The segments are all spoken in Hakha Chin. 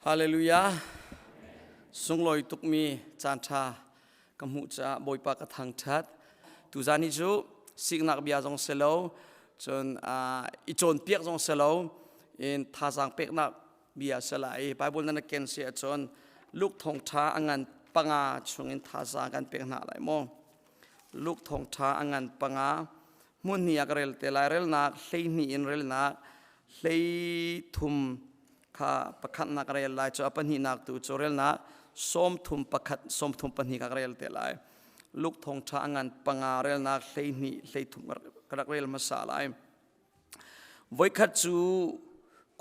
Hallelujah. Sunglawi tukmi caanṭha ka hmuh caah Bawipa ka thangṭhat. Tuzaan hi cu siknak bia zong si lo, cun ah, i cawnpiak zong si lo, in thazaang peknak bia si lai. Baibal nan ken si ahcun Luke thawngṭha a ngan panga chungin thazaang kan pek hna lai maw? Luke thawngṭha a ngan panga hmun hnih ah ka rel te lai relnak hlei hnih in relnak hlei thum kha pakhatnak ka rel lai cu a pahnihnak tu cu relnak sawm thum pakhat sawm thum pahnih ka rel te lai luk thong ṭha ngan panga relnak hlei hnih hlei thum ka rak rel hmasa lai voikhat cu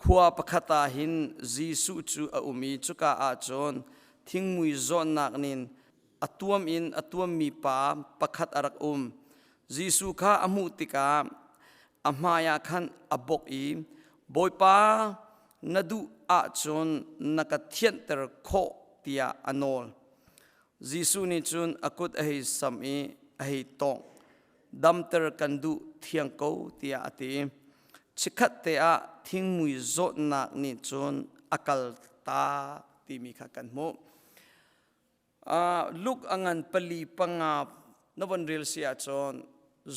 khua pakhat ah hin Jesuh cu a um i cuka ah cun thingmui zawnnak nin a tuam in a tuammi pa pakhat a rak um. Jesuh kha a hmuh tikah a hmaiah khan a bok i, Bawipa, na duh ahcun na ka thianter khawh tiah a nawl. Jesuh nih cun a kut a hei sam i a hei tawngh. Damter kan duh thiang ko tiah a ti. Chikkhat te ah thingmui zawtnak nih cun a kal ta timi kha kan hmuh. uh, luk a ngan pali panga na von rel si ahcun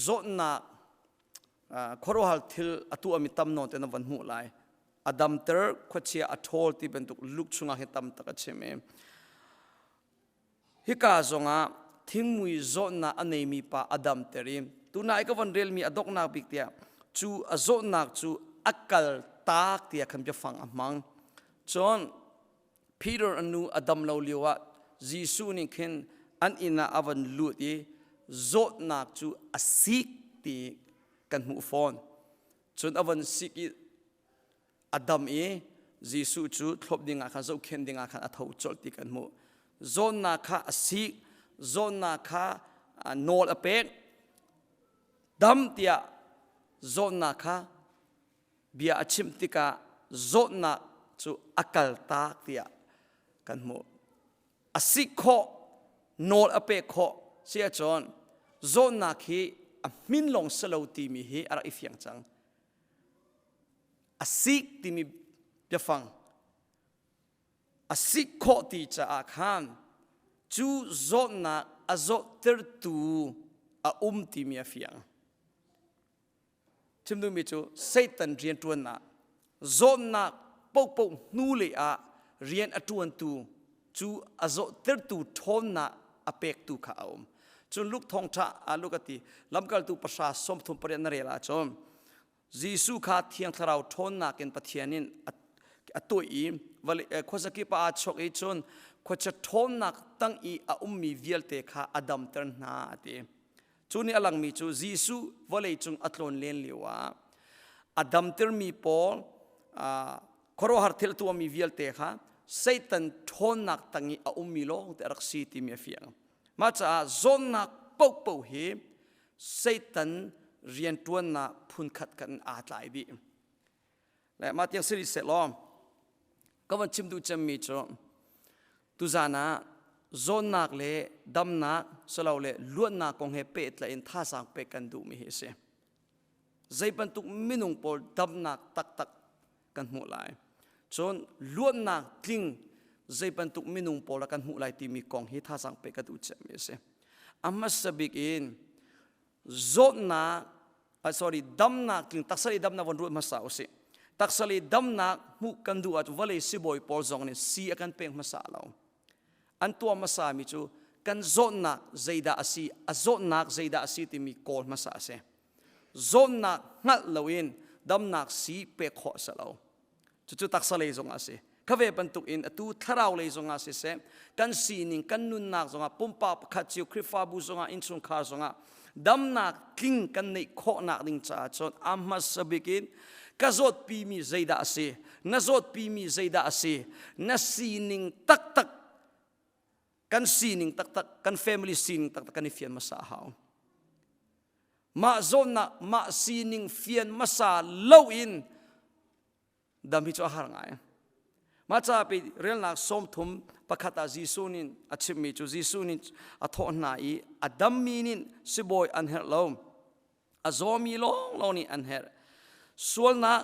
zawtnak uh, khuaruahar thil a tuahmi tam nawn te na von hmuh lai a damter khuachia a ṭhawl ti bantuk luk chungah hi tam tak a chim i hika zongah thingmui zawtnak a neimi pa a damter i tuna i ka von relmi a doknak bik tiah cu a zawtnak cu a kal tak tiah khan bia fang a hmang cun Peter a nu a dam lo lioah Jesuh nih khin an inn ah a van lut i zawtnak cu a sik ti kan hmuh fawn. Cun a van sik i a dam i Jesuh cu thlawp dingah khan zohkhenh dingah khan a tho colh ti kan hmuh. Zawnnak kha a sik, zawnnak kha nawl a pek, dam tiah zawnnak kha bia a chimh tikah zawtnak cu a kaltak tiah kan hmuh a sik khawh nawl a pek khawh si ahcun zawtnak hi a hmin lawng si lo timi hi a rak i fiang cang a sik timi biafang a sik khawh ti caah khan cu zawtnak a zawhtertu a um timi a fiang Chim duhmi cu Satan rianṭuannak zawtnak paohpaoh hnulei ah rian a ṭuantu cu a zawhtertu ṭhawnnak a pektu kha a um. Cun Luke thawngṭha ah Luke a ti, lamkaltu pahra sawmthum pariat na rel ahcun Jesuh kha thiang thlarau ṭhawnnak in Pathian in a tawih i khuazakip ah aa chawk i cun khuacia ṭhawnnak tang i a ummi vialte kha a damter hna a ti. Cu nih a langmi cu Jesuh vawleicung a tlawn len lioah a damtermi pawl khuaruahhar thil a tuahmi vialte kha Satan ṭhawnnak tang i a ummi lawng ti a rak si timi a fiang. Mah caah zawnnak paohpaoh hi Satan rianṭuannak phunkhat khat in aa tlai dih. le mah tiang si rih sehlaw ka van chim duh cemmi cu tuzan ah zawnnak le damnak silole luannak kong he pehtlaih in thazaang pek kan duhmi hi a si zei bantuk minung pawl damnak taktak kan hmuh lai cun luannak tling zei bantuk minung pawl ah kan hmuh lai timi kong hi thazaang pe ka duh cemmi a si a hmasa bik in zawtnak uh, sorry damnak tling taksal i damnak von ruat hmasa usih taksal i damnak hmuh kan duh ah vawlei sibawi pawl zong nih si a kan pek hmasa lo an tuah hmasa mi cu kan zawnnak zeidah a si a zawnnak zeidah a si timi kawl hmasa a si zawnnak hngalh loin damnak si pek khawh a si lo cucu taksa lei zongah a si kha ve bantukin atu thlarau lei zongah siseh kan sining kan nunnak zongah pumpak pakhat cio Khrihfabu zongah innchungkhar zongah damnak tling kan neih khawhnak ding caah cun a hmasa bik in ka zawtpi mi zeidah a si na zawtpi mi zeidah a si na sining taktak kan sining taktak kan family sining taktak kan i fian hmasa a hau mah zawnnak mah sining fian hmasa lo in dam hi cu a har ngai mah ca pe relnak sawmthum pakhat ah Jesuh nin a chimmi cu Jesuh nin a thawh hna i a dammi nin sibawi an herh lo a zawmi lawnglawng nih an herh sualnak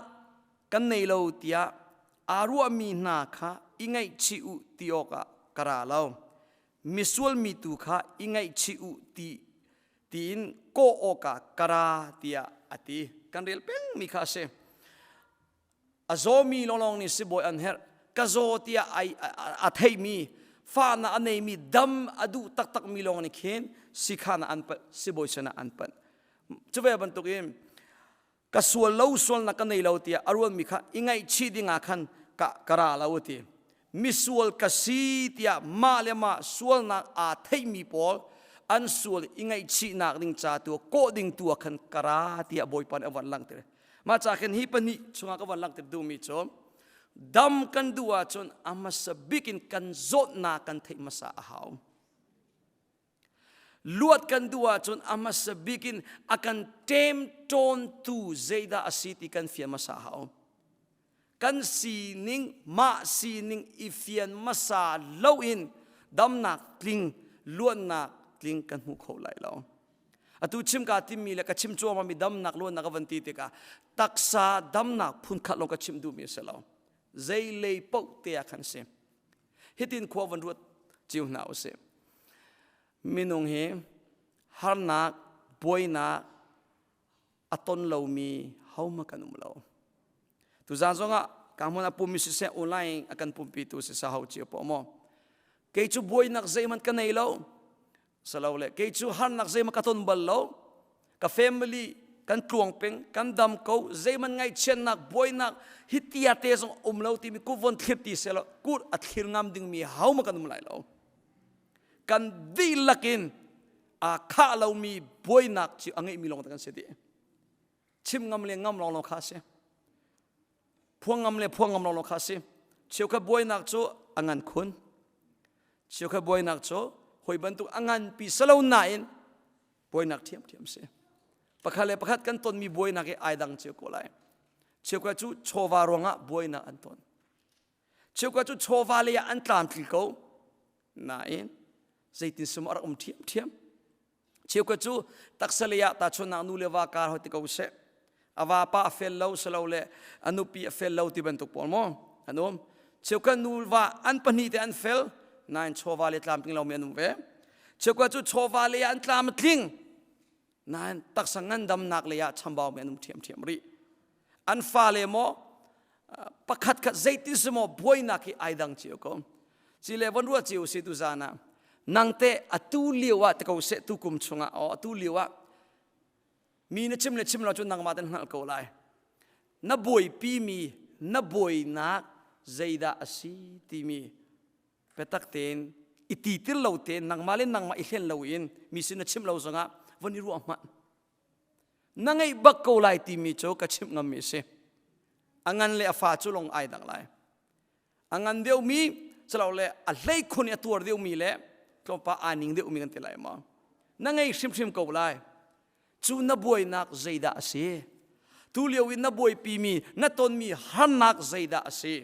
kan nei lo tiah aa ruahmi hna kha i ngaihchih u ti awkah ka ra lo misual mi tu kha i ngaihchih u ti tiin kawh awkah ka ra tiah a ti kan rel pengmi kha a si a zawmi lawnglawng nih sibawi an herh ka zaw tiah a theimi fahnak a neimi dam a duh taktakmi lawng nih khin sikhan an panh sibawi sinah an panh cuve bantukin ka sual lo sualnak ka nei lo tiah a ruanmi kha i ngaihchih dingah khan ka, ka ra lo a ti misual ka si tiah mah le mah sualnak aa theihmi pawl an sual i ngaihchihnak ding ca tu kawh ding tu khan ka ra tiah bawipa nih a van langh mah ca khin hi pahnih chungah ka van langh tir duhmi cu dam kan duh ahcun a hmasa bik in kan zawtnak kan theih hmasa a hau luat kan duh ahcun a hmasa bik in a kan ṭem ṭawntu zeidah a si ti kan fian hmasa hau kan sining mah sining i fian hmasa lo in damnak tling luannak tling kan hmu kho lai lo atu chimka timmi le ka chim cuama mi damnak luannak ka van ti tikah taksa damnak phunkhat lawng ka chim duhmi a si lo zei lei paoh te ah khan si hitin khua van ruat cio hna usih minung hi harnak buainak a ton lomi homa kan um lo tuzaan zongah kahmun a pumi siseh online a kan pumpitu sisa ho cio po maw kei cu buainak zeihmanh ka nei lo Salole kei cu harnak zeimah ka ton bal lo. Ka family kan tluang peng, kan dam ko, zeiman ngaihchiatnak, buainak, hi tia te zong um lo timi ku von thlir ti selaw, kur a thlir ngam dingmi hau ma kan um lai lo. Kan dihlak in aa khah lomi buainak cu a ngeihmi lawng kan si dih. Chim ngam le ngam lawng lo kha a si. phuangam le phuangam lawlaw kha a si cheukhat buainak cu a ngan khun cheukhat buainak cu hoi bantuk a nganpi silo nain buainak ṭhiamṭhiam si pakhat le pakhat kan tonmi buainak i ai dang cio ko lai cheukhat cu chawva ruangah buainak an ton cheukhat cu chawva lei ah an tlamtling ko nain zeitin sum a rak um ṭhiamṭhiam Cheukhat cu taksa lei ah tahchun nak nu le va kar hoi ti ko seh. A va pa a fel lo selo le a nupi a fel lo ti bantuk pawl maw an um. Cheukhat nu va an pahnih te an fel nain chawva le tlam tling lomi an um ve. Cheukhat cu chawva lei ah an tlam a tling nain taksa ngandamnak lei ah chambau mi an um ṭhiamṭhiam rih. an fale maw pakhat khat zeitin si maw buainak hi ai dang cio ko ci le von ruat cio si tu zana nangte atu lio ah te ko se tu kum chungah o atu lio ah mi na chim le chim lo cu nangma ten hngal ko lai na buai pi mi na buainak zeidah asi timi petak tein iti til lo te nangma le nangma i hlen lo in mi sin na chim lo zongah von i ruah hmat na ngeih bak ko lai timi cu ka chimh ngammi a si a ngan le a fa cu lung ai dak lai a ngan deuhmi le a hlei khun i a tuar deuhmi le tlawmpa aa ning deuhmi kan ti lai ma na ngei hrimhrim ko lai cu na buainak zeidah a si tu lio in na buaipimi na tonmi harnak zeidah a si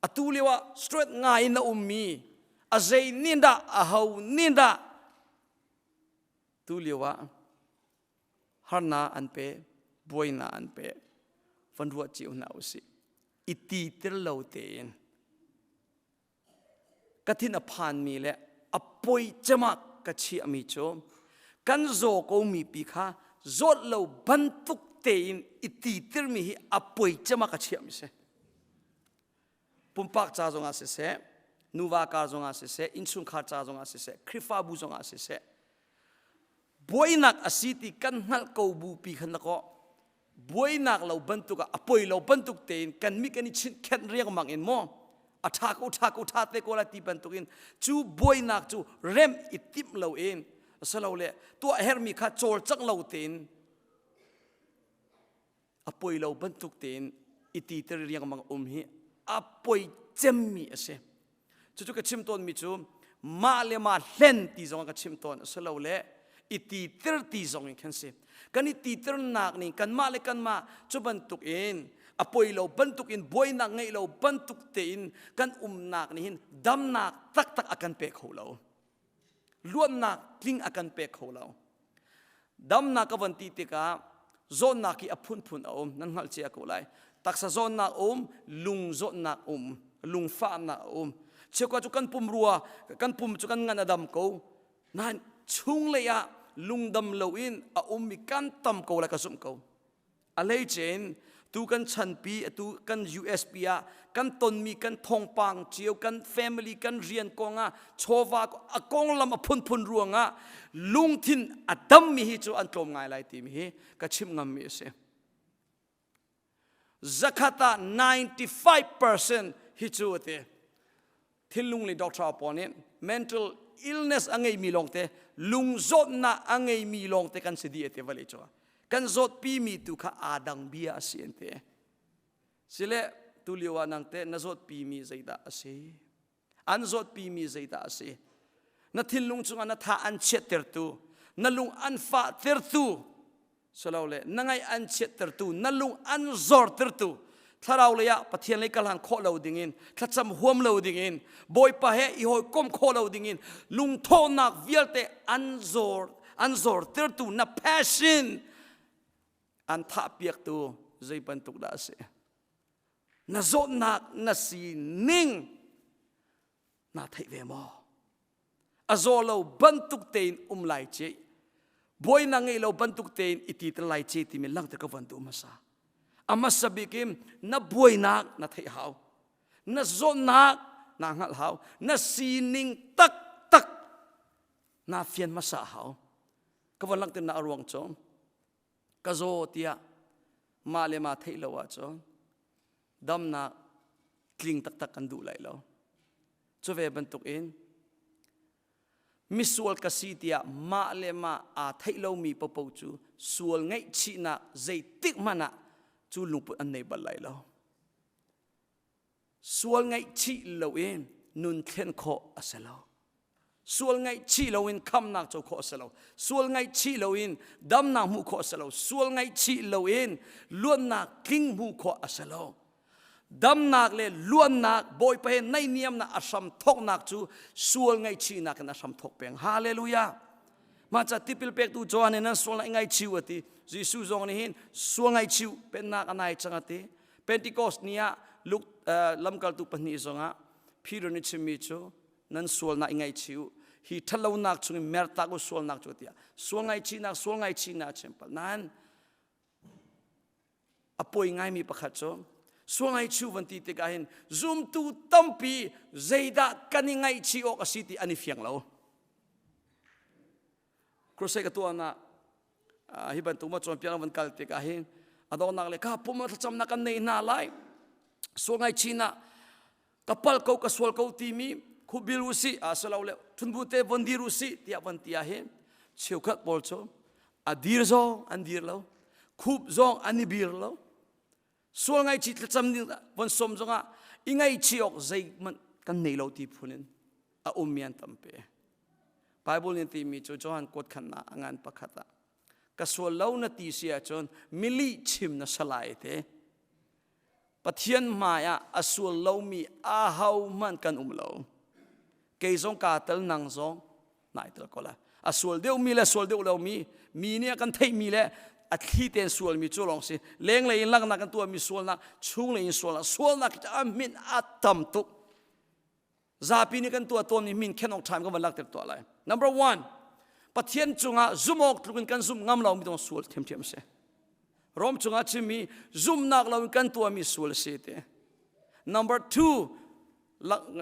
atu lio ah straight ngai in a ummi a zei nin dah a ho nin dah tu lio ah harnak an pe buainak an pe van ruah cio hna usih i ti tel lo tein ka thin a phanmi le a poi cemah ka chiahmi cu kan zaw komi pi kha zawt lo bantuk tein i ti tirmi hi a poi cema ka chiahmi si pumpak ca zongah siseh nuva kar zongah siseh innchungkhar ca zongah siseh Khrihfabu zongah siseh buainak a si ti kan hngalh ko bu pi khan lakaw buainak lo bantuk ah a poi lo bantuk tein kan mi kan i chinkhenh riangmang in maw a ṭha ko ṭha ko ṭha te ko la ti bantuk in cu buainak cu rem i timh lo in salo le tuah hermi kha cawlcang lo tein a poi lo bantuk tein i titer riangmang um hi a poi cemmi a si cucu ka chim tawnmi cu mah le mah hlen ti zong ka chim tawn a si lo le i titer ti zong in khan si kan i titernak nih kanmah le kanmah cu bantuk in a poi lo bantuk in buainak ngeih lo bantuk tein kan umnak nih hin damnak taktak a kan pe kho lo luannak tling a kan pek kho lo damnak ka van ti tikah zawnnak hi a phunphun a um nan hngalh cia ko lai taksa zawnnak um lung zawnnak um lungfahnak a um chiokua cu kan pum rua kan pum cu kan ngan a dam ko nain chung lei ah lungdam lo in a ummi kan tam ko lai ka zumh ko a leicen tu kan chanpi atu kan usp ah kan tonmi kan thongpang cio kan family kan rian kongah chawva a konglam a phunphun ruangah lungthin a dammi hi cu an tlawm ngai lai timi hi ka chim ngammi a si zakhat ah 95% hi cu a ti thilnung le doctor pawl nih mental illness a ngeimi lawngte lungzawtnak a ngeimi lawngte kan si dih te vale cu kan zawtpi mi tu kha aa dang bia a si an te sile tu lio ah nang te na zawtpi mi zeidah a si an zawtpi mi zeidah a si na thinlung chungah na tha an chiatter tu na lung an fah tertu silole na ngaih an chiattertu na lung an zortertu thlarau lei ah pathian lei kal han khawh lo dingin thlacam huam lo dingin bawipa he i hawikom khawh lo dingin lungthawhnak vialte an zor an zortertu na passion an thahpiaktu zei bantuk dah a si na zawtnak na sining naa theih ve maw a zaw lo bantuk tein um lai ce buai na ngei lo bantuk tein i ti te lai ce timi langte ka van tu hmasa a hmasa bik in na buainak na theih hau na zawtnak na hngal hau na sining tak tak na fian hmasa hau ka van langte na ruang chom ka zaw tiah mah le ma theih lo ahcun damnak tling taktak kan duh lai lo cuve bantuk in misual ka si tiah mah le mah aa theih lomi popo cu sual ngaihchihnak zeitik hmanh ah cu lungput an nei bal lai lo sual ngaihchih loin nun thlen khawh a si lo sual ngaihchih loin khamnak co khawh a si lo sual ngaihchih loin damnak hmuh khawh a si lo sual ngaihchih loin luannak tling hmuh khawh a si lo damnak le luannak bawipa he naih niamnak a hram thoknak cu sual ngaihchihnak in a hram thok peng hallelujah maca tipil pektu Johan in an sual ngaihchiu ati Jesuh zong nih hin sual ngaihchiu pennak a nai chang ati Pentecost ni ah Luke lamkaltu pahnih zongah Peter nih chimmi cu nan sualnak i ngaihchih u hi ṭhatlonak chungin mer tlak u sualnak cu tiah sual ngaihchihnak sual ngaihchihnak a chim pal nain a poi ngaimi pakhat cu sual ngaihchih van ti tikah hin zumtu tampi zeidah kan i ngaihchih awk a si ti an i fiang lo crusade ka tuah na hi bantuk ma champion van kal te ka hi adongnak le ka pum thlacam na kan nei na lai so ngai china kapal ko ka sual ko ti mi khubil usi asalo le thunbu te von dir usi tia von tia hi cheukhat pawl chu adir zong an dir lo khup zong an i bir lo sual ngaichih thlacam ding von som zongah i ngaichih awk zeihmanh kan nei lo ti phun in a um mi an tampe Bible nih timi cu Johan kuat khannak a ngan pakhat ah ka sual lo na ti si ahcun mili chim na salai te Pathian hmai ah a sual lomi aho hmanh kan um lo kei zong kaa tel nang zong nai tel ko la a sual deuh mi le sual deuh lo mi mi nih a kan theih mi le a thli tein sual mi cu lawng si lenglei in laknak kan tuah mi sualnak chunglei in sualnak sualnak hi a min a tam tuk zapi nih kan tuah tawn mi min khenok ṭhaim kan van lakter tuah lai number one pathian cungah zumawk tluk in kan zumh ngam lo mi dong sual thiamthiam si rom cungah chim mi zumnak lo in kan tuah mi sual si te number two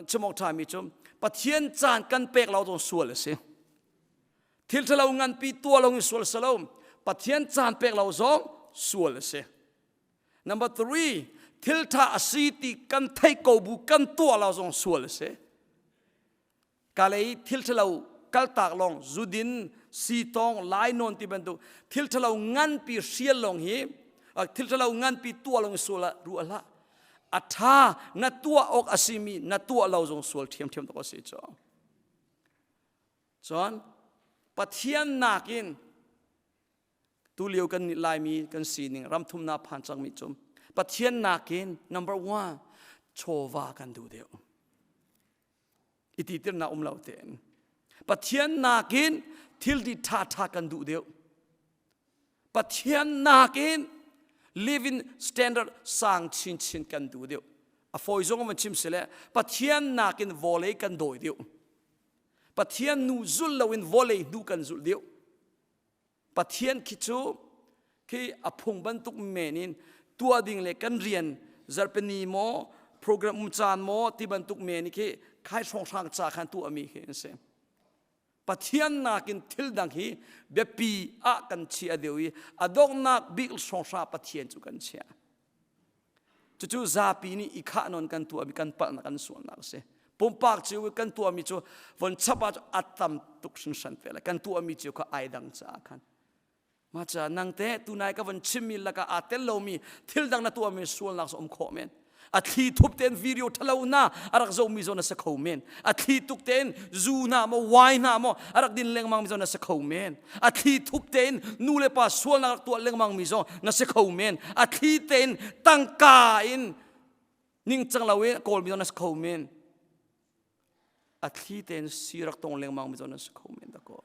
chimawk ṭhami cu Pathian caan kan pek lo zong sual a si thil ṭhalo nganpi tuah lo in sual si lo Pathian caan pek lo zong sual a si number three thil ṭha a si ti kan theih ko bu kan tuah lo zong sual a si kalei thil ṭhalo kaltak lawng zudin sitawng lainawn ti bantuk thil ṭhalo nganpi hrial lawng hi thil ṭhalo nganpi tuah lawng sual ah ruah hlah a ṭha na tuah awk a simi na tuah lo zong sual ṭhiamṭhiam tuk a si cu cun pathian nakin tulio kan nih laimi kan sining ramthumnak phan cangmi cum pathian nakin number one chawva kan duh deuh i ti tirnak um lo tein pathian nakin thil ti ṭha ṭha kan duh deuh pathian nakin living standard sang chinchin kan duh deuh a fawi zong man chim sile pathian nakin vawlei kan dawi deuh pathian nu zulh loin vawlei hnu kan zulh deuh Pathian khi cu khi a phung bantuk men in tua ding le kan rian zarpeni maw program um caan maw ti bantuk men hi khi khai hrawnghrang ca khan tuahmi hi an si pathian nakin thil dang hi biapi ah kan chia deuh i a donghnak bik hrawnghrang pathian cu kan chia Cucu zapi nih i khah non kan tuahmi kan palhnak an sualnak a si. Pumpak cio i kan tuahmi cu von chap ah a tam tuk hringhran ve kan tuahmi cio kha ai dang caah khan. Maca nang te tunai ka von chimmi lakah aa tel lomi thil dang na tuahmi sualnak so um khawh men. A thli thup ten video thalo na arak zomi zo na se kho men. A thli tuk ten zu na mo wine na mo arak din lengmang mi zo na se kho men. a thli thup tein nulepa sualnak rak tuah lengmang mi zong na si kho men a thli tein tangka in ningcang lo i kawl mi zong na si kho men a thli tein si rak tong lengmang mi zong na si kho men dako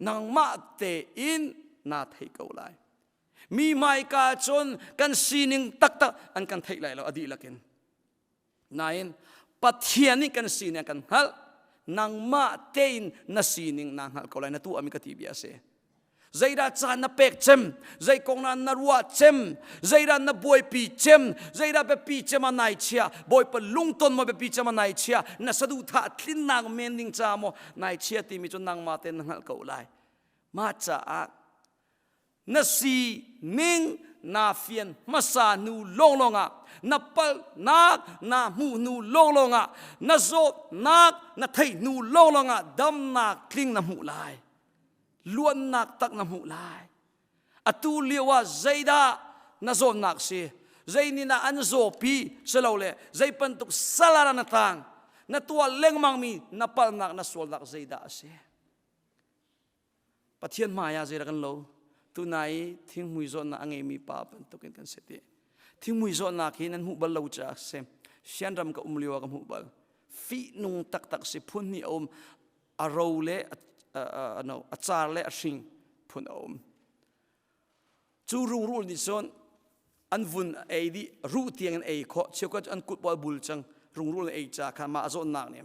nangmah tein naa thei ko lai mi hmaika cun kan sining taktak an kan theih lai lo a dihlak in Nain Pathian nih kan sining kan hngalh nangmah tein na sining naa hngalh ko lai na tuahmi ka ti bia a si zeidah caan na pek cem zei kong na na ruah cem zeidah na buaipi cem zeidah biapi cem a nai chia bawipa lungton maw biapi cem a nai chia na saduhthah tlinnak men ding ca maw nai chia timi cu nangmah ten na hngalh ko lai mah caah na si ning na fian hmasa nu lawnglawng ah na palhnak na hmuh hnu lawnglawng ah na zawtnak na theih hnu lawnglawng ah damnak tling na hmuh lai luannak tak na hmuh lai atu lio ah zeidah na zawnnak si zeinih na an zawpi silo le zei bantuk salar na tang na tuah lengmangmi na palnak na sualnak zeidah a si Pathian hmaiah zeidah kan lo tuna i thinghmui zawtnak a ngeimi pa bantukin kan si ti thinghmui zawtnak hi nan hmuh bal lo caah si sianram ka um lio ah ka hmuh bal fihnung taktak si phun hnih a um a ro le a, a, a, no, a car le a hring phun a um Cu rungrul nih cun an vun a ei dih ruh tiang in ei khawh cheukhat cu an kut pawl bul cang rungrul in ei ca kha mah a zawnnak nih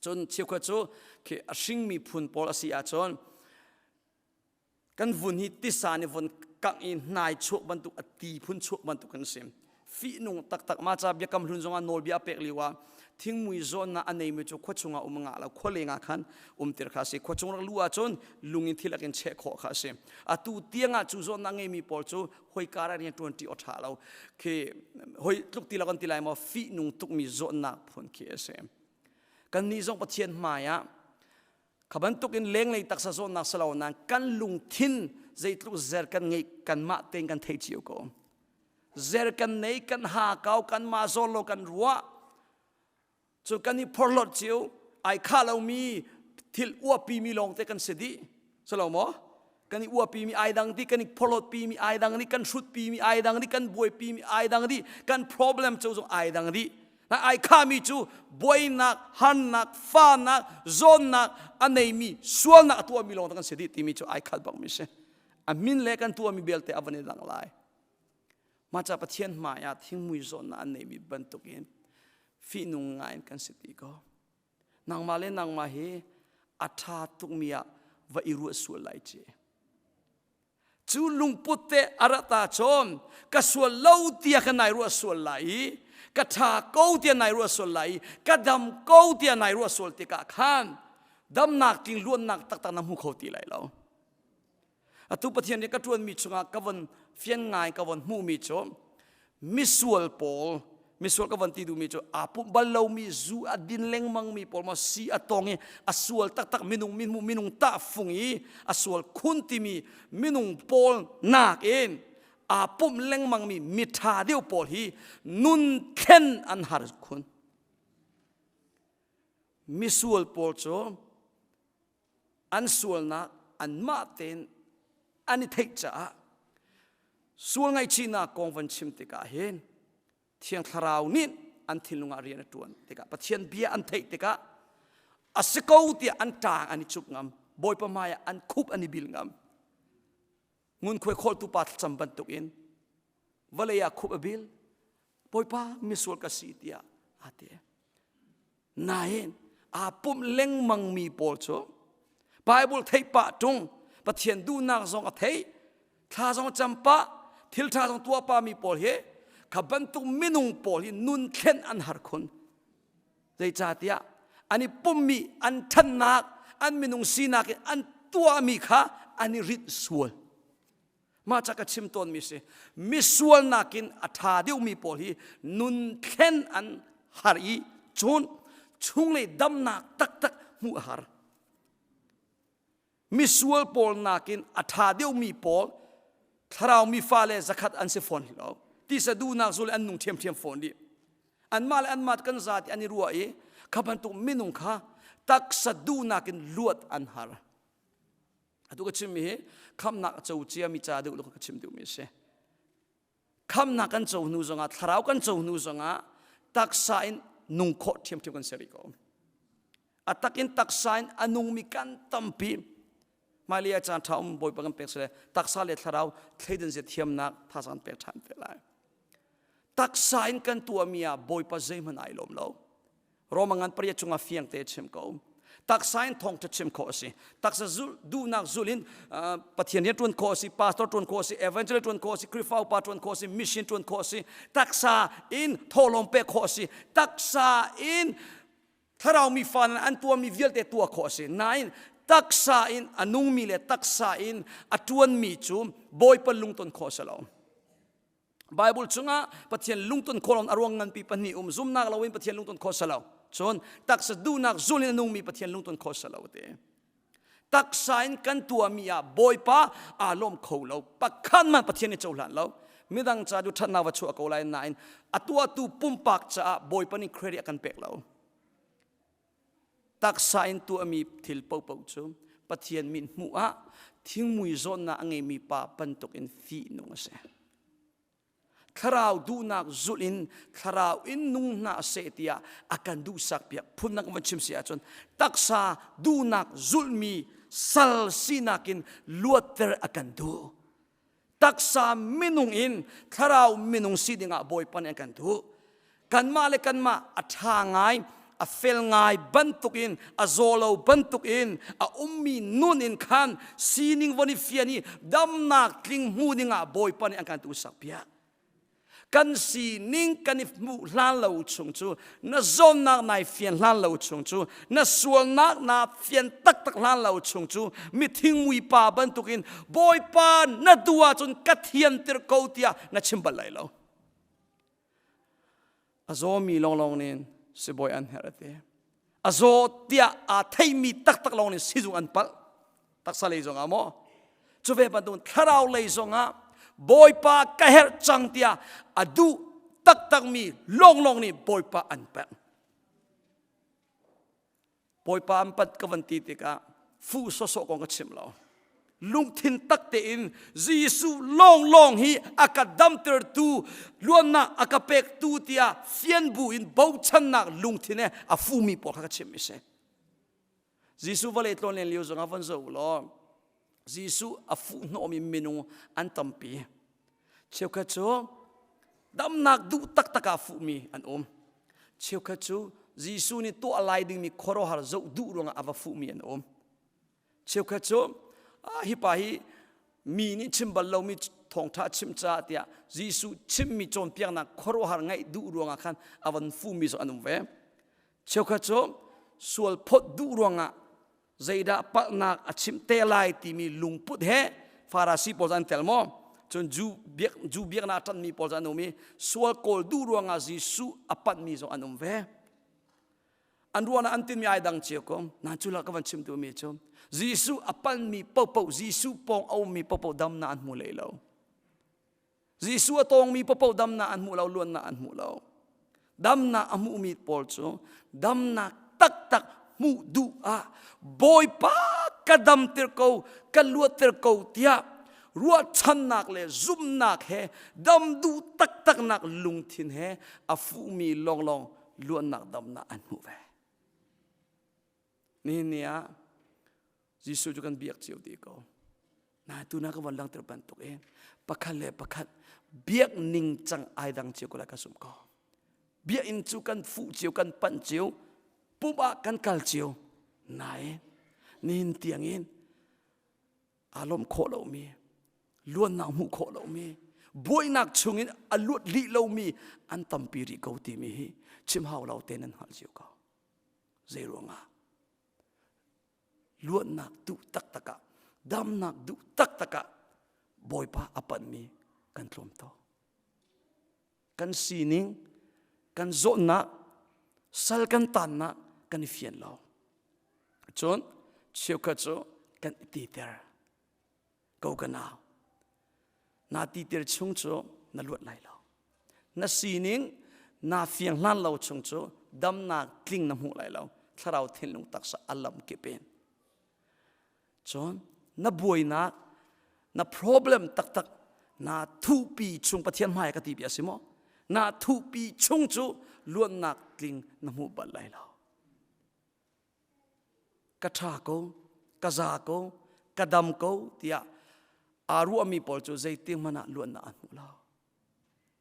cun cheukhat cu khi a hring miphun pawl a si ahcun kan vun hi tisa nih von kangh i hnai chuak bantuk a ti phun chuak bantuk kan si fihnung taktak ma ca biakam hlun zongah nawlbia a pek liwa thingmui zawnna a neimi cu khua chungah um nga lo khua lenga khan umtir kha si khua chung rak lu ahcun lung in thilak in cheh khawh kha si atu tiangah cu zawnna ngeimi pawl cu hoi kara rian tuan ṭi awṭha lo khi hoi tluk ti lakon ti lai maw fihnung tukmi zawnnak phun khi a si kannih zong pathian hmaiah Kha bantuk in lenglei taksa zawtnak si lo nain kan lungthin zeitluk zer kan ngeih kanmah tein kan thei cio ko. Zer kan nei, kan ha kau, kanmah zawn lo kan ruah. Cun kan i phorhlot cio ai kha lomi thil uapi mi lawng te kan si dih. Si lo maw? kan i uapi mi ai dang di kan i phorhlawt pi mi ai dang di kan hrut pi mi ai dang di kan buai pi mi ai dang di kan problem cu zong ai dang di na ai kha mi cu buainak harnak fanak zawnnak a nei mi sualnak a tuah mi lawng kan si dih timi cu ai khal bang mi si a min le kan tuah mi belte a van i lang lai maca pathian hmai ah thingmui zawnnak an nei mi bantuk in fihnung ngai in kan si ti ko nangmah le nangmah hi a ṭha tukmi ah va i ruah sual lai ci cu lungput te a ra ta chom ka sual lo tia ka nai ruah sual lai i ka ṭha ko tia nai ruah sual lai i ka dam ko tia nai ruah sual tikah khan damnak ting luannak taktak na hmu kho ti lai lo atu pathian nih ka ṭuanmi chungah ka von fian ngai ka von hmuhmi cu misual pawl misual ka von ti duhmi cu aa pumh bal lomi zu a din lengmangmi pawl maw si a tawng i a sual taktak minung minhmu minung tahfung i a sual khun timi minung pawl nak in aa pumh lengmangmi miṭha deuh pawl hi nun thlen an har khun misual pawl cu an sualnak anmah tein an i theih caah sual ngaihchihnak kong van chim tikah hin thiang thlarau nih an thinlung ah rian a ṭuan tikah Pathian bia an theih tikah a si ko tiah an ṭang an i cup ngam Bawipa hmaiah an khup an i bil ngam ngunkhuai khawltu pa thlacam bantukin vawlei ah khup a bil bawipa misual ka si tiah aa ti nain aa pumh lengmangmi pawl cu Bible theipah tung Pathian duhnak zong a thei thla zong a campah thil ṭha zong tuahpami pawl hi kha bantuk minung pawl hi nun thlen an har khun Zeicahtiah an i pummi an ṭhannak, an minung sinak i an tuahmi kha an i rinh sual. Mah ca ka chim tawnmi si. Misual nakin a ṭha deuhmi pawl hi nun thlen an har i cun chunglei damnak taktak hmuh a har. misual pawl nakin a ṭha deuhmi pawl thlarau mi fale zakhat an si fawn lo tisa duhnak zu le an nung ṭhiamṭhiam fawn rih anmah le anmah kan zati an i ruah i kha bantuk minung kha taksa duhnak in luat an har atu ka chimmi hi khamnak a co ciami ca deuh ka chim duhmi a si khamnak kan co hnu zongah thlarau kan co hnu zongah taksa in nung khawh ṭhiamṭhiam kan si rih ko a takin taksa in a nungmi kan tampi mali a caan ṭha um bawipa kan pek sile taksa le thlarau thleidan zia thiamnak thasa kan pek ṭhan te lai taksa in kan tuahmi ah bawipa zeihmanh ai lawm lo Roma ngan pariat cungah fiang te chim ko taksa in thongtha chim kho asi taksa zul duhnak zul in pathian rian tuan kho asi pastor tuan kho asi evangelist tuan kho asi krifa upa tuan kho asi mission tuan kho asi taksa in tholom pe kho asi taksa in thlarau mi fa an tua mi vialte tua kho asi nain taksa in a nung mi le taksa in a tuan mi cu bawipa lungton kho salo Bible chungah Pathian lungton khawlon a ruang nganpi pahnih um zumnak loin Pathian lungton kho salo cun taksa duhnak zul in a nungmi Pathian lungton kho salo te taksa in kan tuahmi ah Bawipa aa lawm kho lo pakhat man Pathian nih cohlan lo midang ca cu ṭhatnak va chuah ko lai nain a tuahtu pumpak caah Bawipa nih credit a kan pek lo taksa in tuahmi thil popoh cu Pathian min hmuh ah thingmui zawnnak a ngeimi pa bantuk in fihnung a si. Thlarau duhnak zulh in thlarau in nung hna seh tiah a kan duhsak piak phundang kan chim si ahcun taksa duhnak zulhmi sal sinak in luatter a kan duh. taksa minung in thlarau minung si dingah bawipa nih an kan duh kanmah le kanmah a ṭha ngai a fel ngai bantukin a zawlo bantukin a ummi nun in khan sining von i fian i damnak tling hmu dingah bawipa nih an kan tu sak piak kan sining kan i hmuh hlan lo chung cu na zawnnak nai fian hlan lo chung cu na sualnak na fian taktak hlan lo chung cu mithingmui pa bantukin bawipa na du ahcun ka thianter ko tiah na chim bal lai lo a zawmi lawnglawng nih sibawi an herh a ti a zaw tiah aa theimi taktak lawng nih sizung an palh taksa lei zong ah maw cu ve bantuk thlarau lei zong ah bawipa ka herh cang tiah a duh taktakmi lawnglawng nih bawipa an pek Bawipa an pat ka van ti tikah fuh sawsawh kong ka chim lo. Lungthin tak tein Jesuh lawnglawng hi a ka damtertu luannak a ka pektu tiah fian bu in bochannak lungthin he a fumi pawl kha ka chim mi si. Jesuh vale tlawn len lio zongah von zoh u law Jesuh a fuhhnawm in minung an tampi. Cheukhat cu damnak duh taktak ah fuhmi an um. Cheukhat cu Jesuh nih tuah lai dingmi khuaruahhar zoh duh ruangah a va fuhmi an um. Cheukhat cu ah, hi pa hi mi nih chim bal lomi thawngṭha chim caah tiah Jesuh chimmi cawnpiaknak khuaruahhar ngaih duh ruangah khan a van fuhmi cu an um ve. Cheukhat cu sual phawt duh ruangah zeidah palhnak a chim te lai timi lungput he farasi pawl an tel maw cun Jew biak Jew biaknak ṭanmi pawl an um i sual kawl duh ruangah Jesuh a panhmi zong an um ve an ruangah an tinmi ai dang cio ko nan cu la ka van chim mi cu Jesuh a palhmi popoh Jesuh pawng a ummi popoh dam na an hmu lei lo Jesuh a tawngmi paoh damnak an hmuh lo, luannak an hmuh lo. Damnak a hmuhmi pawl cu damnak taktak hmuh duh ah Bawipa ka damter ko, ka luatter ko tiah ruahchannak le zumhnak he dam duh taktaknak lungthin he a fuhmi lawnglawng luannak damnak an hmuh ve. Nihin ni ah Jesuh cu kan biak cio te ko. Na tu na ka von langhter bantuk in pakhat le pakhat biak ning cang ai dang cio ko lai ka sum ko. Bia in cu kan fuh cio, kan panh cio, pumh ah kan kal cio. Nain nihin tiang in aa lawm khawh lomi, luannak hmuh khawh lomi, buainak chung in a luat lih lomi an tampi rih ko timi hi chim hau lo te nan hngalh cio ko. Zei ruangah? luatnak duh taktak ah damnak duh taktak ah bawipa a panmi kan tlawm to kan sining kan zawhnak sal kan tannak kan i fian lo cun cheukhat cu kan i teter ko ka nau na ti tir chung cu na luat lai lo na sining na fiang hlan lo chung cu damnak tling na hmuh lai lo thlarau thinlung taksa alam kepen cun na buainak na problem taktak na thupi chung pathian hmai ka ti bi asi mo na thupi chung cu luannak tling na hmu bal lai lo ka ṭha ko, ka za ko, ka dam ko tiah aa ruahmi pawl cu zeitik hmanh ah luatnak an hmu lo.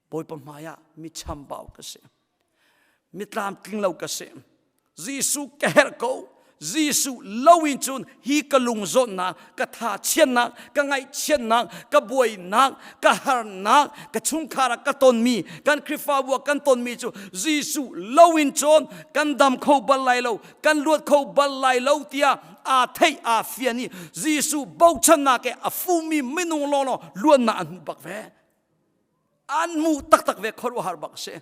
Bawipa hmaiah mi chambau ka si. Mi tlamtling lo ka si. Jesuh ka herh ko. Jesuh lo in cun hi ka lungzawnnak ka thachiannak ka ngaihchiatnak ka buainak ka harnak ka chungkhar ah ka tonmi kan Khrihfabu ah kan tonmi cu Jesuh lo in cun kan dam kho bal lai lo kan luat kho bal lai lo tiah aa theih aa fian i Jesuh bochannak he a fumi minung lawlaw luannak an hmu bak ve an mu taktak ve khuaruahhar bak a si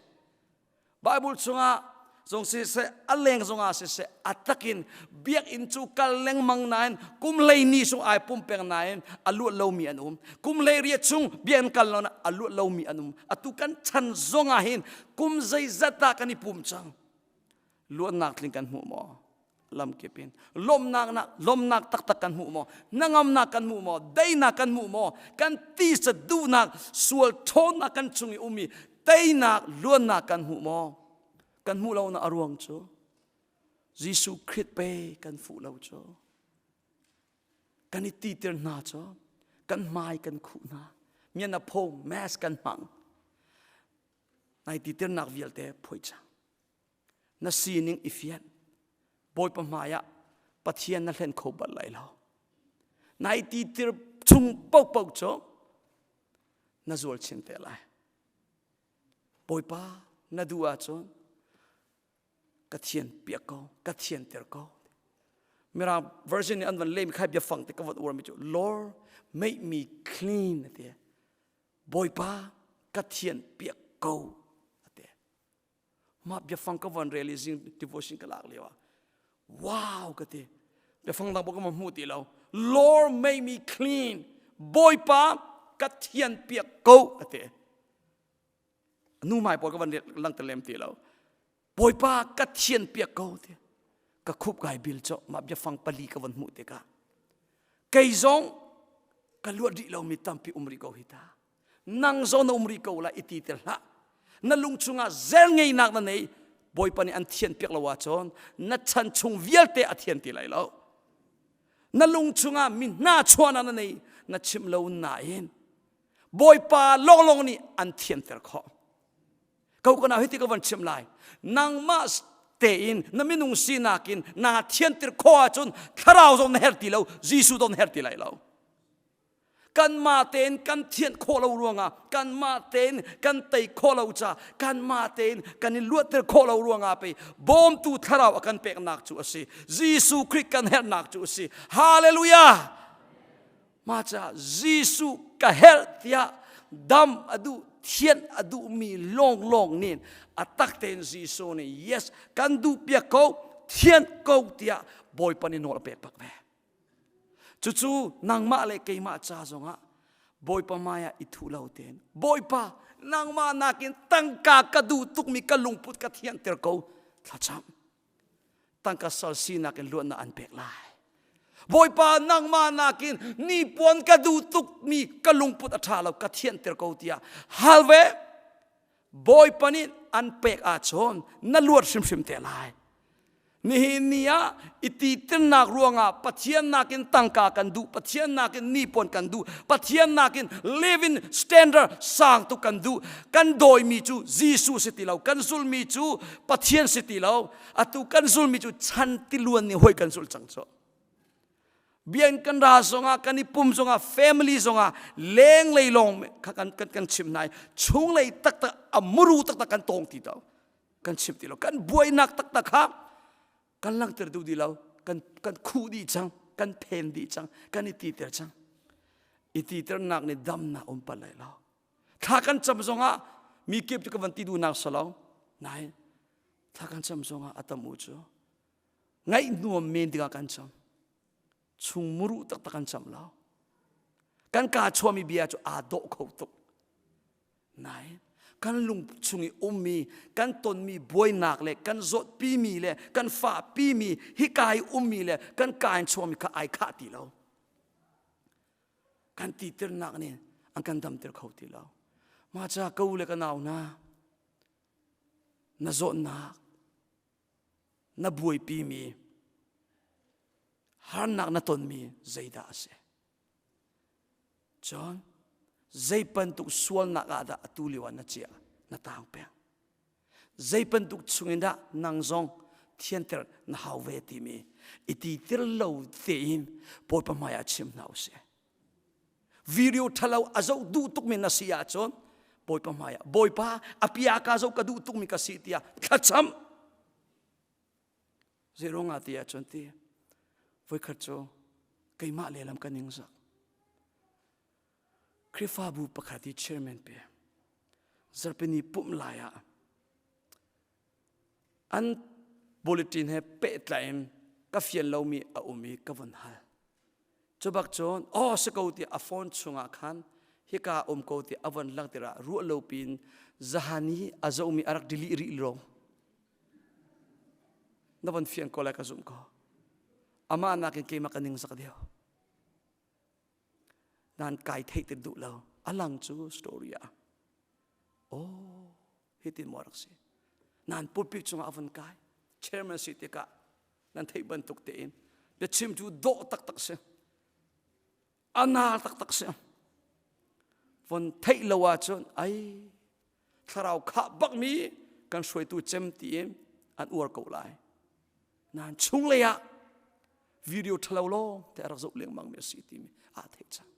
Bible chungah zong siseh a leng zongah siseh a takin biakinn cu kal lengmang nain kum hlei ni chung ai pum peng nain a luat lomi an um kum hlei ria chung biakinn kal lo a luat lomi an um atu kan chan zongah hin kum zeizat dah kan i pum cang luannak tling kan hmuh maw lamkip in lawmnak na lawmnak taktak kan hmuh maw nangamnak kan hmuh maw dainak kan hmuh maw kan tisa duhnak sual ṭhawnnak kan chung i um i teinak luannak kan hmuh maw kan hmuh lo na a ruang cu Jesuh Krit pe kan fuh lo cu kan i titir hna cu kan hmai kan khuh hna mian a pho mask kan hmang nai titirnak vialte phoi chang na sining i fian bawipa hmaiah pathian na hlen kho bal lai lo nai ti tir chung paohpaoh cu na zual chin te lai bawipa na duh ahcun ka thian piak ko ka thian ter ko mirang version nih an van lem khai bia fang te ka vat uar mi cu lord make me clean ati bawipa ka thian piak ko ate mah biafang ka van rel i zing devotion ka lak lio ah wow ka ti biafang dang ka hmuh ti lo Lord make me clean bawipa ka thian piak ko a ti nu mai pawl ka van lang te lem ti lo bawipa ka thian piak ko ti ka khup kai bil cho ma biafang pali ka van hmuh te ka kei zong ka luat rih lo mi tampi um ri ko hi ta nang zawn na um rih ko lai i ti ter hlah na lung chungah zel ngeinak na nei bawipa nih an thian piak lo ahcun na chan chung vialte a thian ti lai lo na lung chungah mi hna chuahnak na nei na chim lo nain bawipa lawnglawng nih an thianter khawh ko kana hiti ka van chim lai nangmah tein na minung sinak in na thianter khawh ahcun thlarau zong na her ti lo jesuh zong na her ti lai lo kanmah tein kan thianh khawh lo ruangah kanmah tein kan tei khawh lo ca kanmah tein kan i luatter khawh lo ruangah pei bawmtu thlarau a kan peknak cu a si Jesuh Khrih kan herhnak cu a si hallelujah maca Jesuh ka herh tiah dam a duh thianh a duhmi lawnglawng nih a tak tein Jesuh nih yes kan duh piak ko thianh ko tiah Bawipa nih nawl a pek bak ve Cucu nangmah le keimah ca zongah Bawipa maiah i thu lo tein Bawipa nangmah nakin tangka ka duh tukmi ka lungput ka thianter ko thlacam tangka sal sinak in luatnak an pek lai Bawipa nangmah nakin nipuan ka duh tukmi ka lungput a ṭha lo ka thianter ko tiah hal ve Bawipa nih an pek ahcun na luat hrimhrim te lai. Nihin ni ah i titirnak ruangah Pathian nakin tangka kan duh, Pathian nakin nipawn kan duh, Pathian nakin live in standard sang tu kan duh. Kan dawimi cu Jesuh si ti lo, kan zulmi cu Pathian si ti lo. Atu kan zulmi cu chan tiluan nih hoi kan zul cang cu. bian kan ra zongah kan i pum zongah family zongah lenglei lawng kha kan kan, kan chim hna i chunglei taktak a muru taktak kan tawng ti to kan chim ti lo kan buainak taktak kha kan langter duh di lo kan kan khu dih cang kan phen dih cang kan i titer cang i titernak nih damnak um pal lai lo thla kan cam zongah mi kip cu ka van ti duhnak salong nain thla kan cam zongah a tam u cu ngaih nuam men dingah kan cham chung muru taktak kan cham lo kan ka chuami bia cu aa dawh kho tuk nain kan lung chung i ummi kan tonmi buainak le kan zawtpimi le kan fahpimi hika i ummi le kan kain chuami kha ai khah ti lo kan titirnak nih an kan damter kho ti lo maca ko le ka nau na na zawtnak na buaipimi harnak na tonmi zeidah a si cun zei bantuk sualnak ah dah atu lio ah na ciah na taang peng zei bantuk chungin dah nang zong thianter na hau ve timi i ti ter lo tein Bawipa hmai ah chim hna u sih video ṭhalo a zoh duh tukmi na si ahcun bawipa hmaiah bawipa apia ka zoh ka duh tukmi ka si tiah thlacam zeiruang ah ti ahcun ti voikhat cu keimah lehlam ka ningzak Krifabu pakhat i chairman pe zarpini pum lai ah an bulletin he pehtlai in ka fial lomi a um i ka vun hal. Cubak cun aw si ko ti a phone chungah khan hika um ko ti a von lang tirah ruah lo piin zahani a zomi a rak delete rih lawng na von fiang ko lai ka zumh ko amah nakin keimah ka ning sak deo nan kai thei ti duh lo a lang cu story ah oh Hiti maw rak si? Nan pulpi cungah a vun kai. Chairman si tikah nan theih bantuk tein biachim cu dawh taktak si. A nar taktak si. Von theih lo ahcun ai thlarau khah bakmi kan hruaitu cem tiin an uar ko lai. Nan chunglei ah video ṭhalo lawng te a rak zoh lengmangmi a si timi aa theih cang.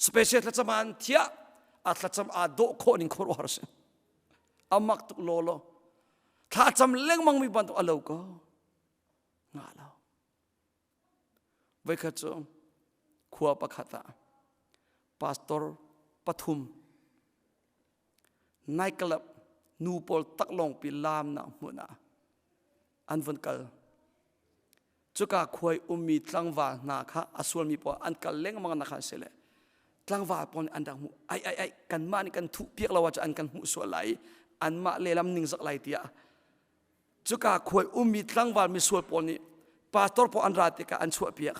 special thlacam ah an thiah a thlacam aa dawh khawh ning khuaruahar si amak tuk lo lo thlacam lengmang mi bantuk a lo ko nga lo veikhat cu khua pakhat ah pastor pathum nightclub nu pawl tak lawng pi laam na hmun ah an vun kal cuka khuai ummi tlangval hna kha a sualmi pawl an kal lengmang na kha si le tlangval pawl nih an rak hmuh ai ai ai kanmah nih kan thuh piak lo ahcun an kan hmuh sual lai anmah lehlam ningzak lai tiah cuka khuai ummi tlangval misual pawl nih pastor pawl an ra tikah an chuahpiak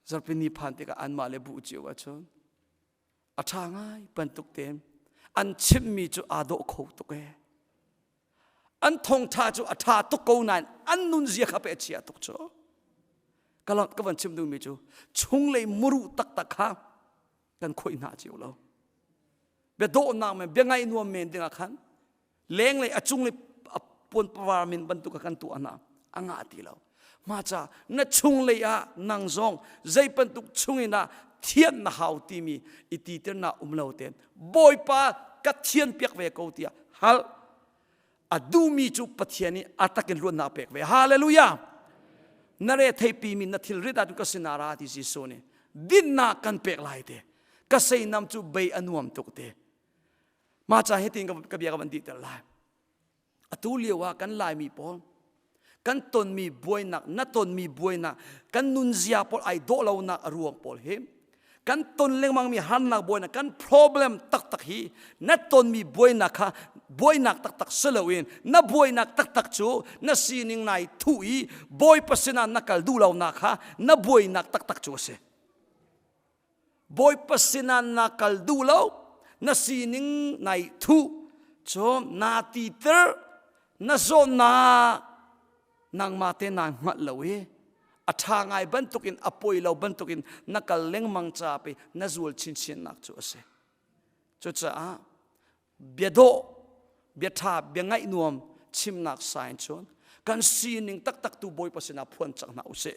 zarpi ni phan tikah anmah le bu cio ahcun a ṭha ngai bantuk tein an chimmi cu aa dawh kho tuk ee an thongtha cu a ṭha tuk ko nain an nunzia kha pe a chia tuk cu ka ka van chim duhmi cu chunglei muru taktak kha kan khoi hna cio lo bia dawhnak men bia ngaih nuam men dingah khan lenglei a cung le a puanpawar min bantuk a kan tuah hna a ngah ti lo maca na chung lei ah nang zong zei bantuk chungin ah thian na hau timi i ti na um lo ten bawipa ka thian piak ve ko tiah hal a duhmi cu pathian i atakin luannak pek ve hallelujah na re theipi min na thil rita tu ka sinara ti si so ni dinna kan pek lai te ka sei nam cu bei a nuam tuk te Mah ca hitin ka bia ka van dih ter lai. Atu lio ah kan Laimi pawl kan tonmi buainak, na tonmi buainak, kan nunzia pawl ai dawh lonak a ruang pawl hi kan ton lengmangmi harnak buainak, kan problem taktak hi na tonmi buainak kha buainak taktak si loin na buainak taktak cu na sining nai thu i bawipa sinah na kal duh lonak kha na buainak taktak cu a si. Bawipa sinan na kal duh lo na sining nai thu cun na ti ter na zawn na nangma te naa hngalh lo i a ṭha ngai bantukin a poi lo bantukin na kal lengmang caah pei na zul chinchinnak cu a si. Cucaah bia dawh bia ṭha bia ngaih nuam chimnak sign cun kan sining taktak tu bawipa sinah phuan cang hna usih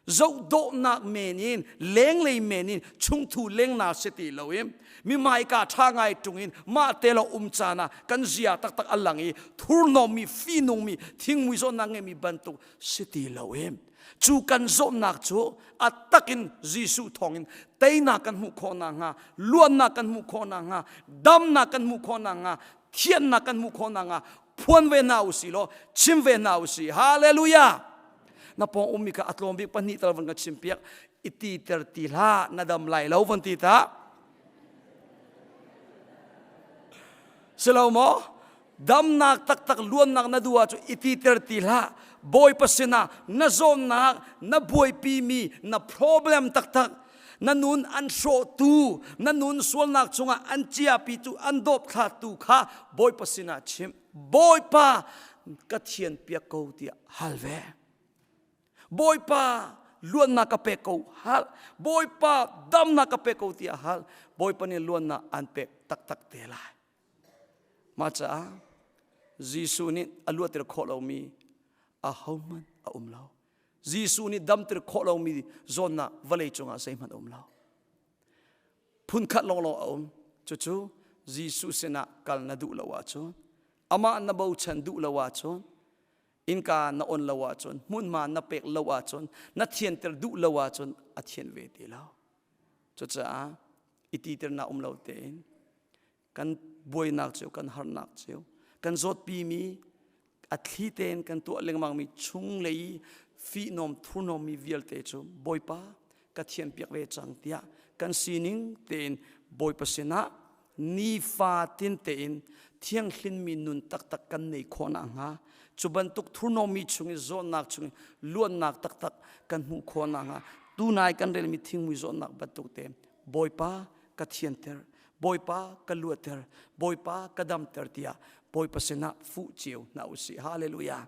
zoh dawhnak men in lenglei men in chungthu lengna si ti lo in mi maika ṭha ngai ṭung in mah te lo um caan ah kan zia taktak a lang i thurnom mi finung mi thingmui zawn na ngeimi bantuk si ti lo in cu kan zawtnak cu a takin Jesuh thawngin teinak kan hmuh khawh nakhnga luannak kan hmuh khawh nakhnga damnak kan hmuh khawh nakhnga thiannak kan hmuh khawh nakhnga phuan ve hna u si law chim ve hna u si hallelujah na pawng ummi kha a tlawm bik pahnih tal van ka chim piak i ti ter ti hlah na dam lai lo van ti ta si lo maw damnak taktak luannak na duh ahcun i titer ti hlah bawipa sinah na zawnnak na buaipimi na problem taktak na nun an hrawhtu na nun sualnak chungah an ciapitu an dawpthlatu kha bawipa sinah chim bawipa ka thian piak ko tiah hal ve bawipa luannak ka pek ko hal bawipa damnak ka pek ko tiah hal bawipa nih luannak an pek taktak te lai Mah caah Jesuh nih a luatter khawh lomi ahohmanh a um lo. Jesuh nih damter khawh lomi zawnnak vawlei cungah zeihmanh a um lo. Phunkhat lawnglawng a um. Cucu Jesuh sinah kal na duh lo ahcun, amah na bochan duh lo ahcun, innka na on lo ahcun, hmunhma na pek lo ahcun, na thianter duh lo ahcun a thian ve ti lo. Cucaah i titernak um lo tein kan buainak cu kan harnak cu kan zawtpimi a thli tein kan tuah lengmangmi chung lei i fihnawm thurhnawmmi vialte cu bawipa ka thianpiak ve cang tiah kan sining tein bawipa sinah nifa tin tein thianghlimmi nun taktak kan nei khawhnak hnga cu bantuk thurnomi chung i zawtnak chung i luannak taktak kan hmuh khawhnak hnga tunai kan relmi thingmui zawtnak bantuk te bawipa ka thianter bawipa ka luatter bawipa ka damter tiah bawipa sinah fuh cio hna usih haleluja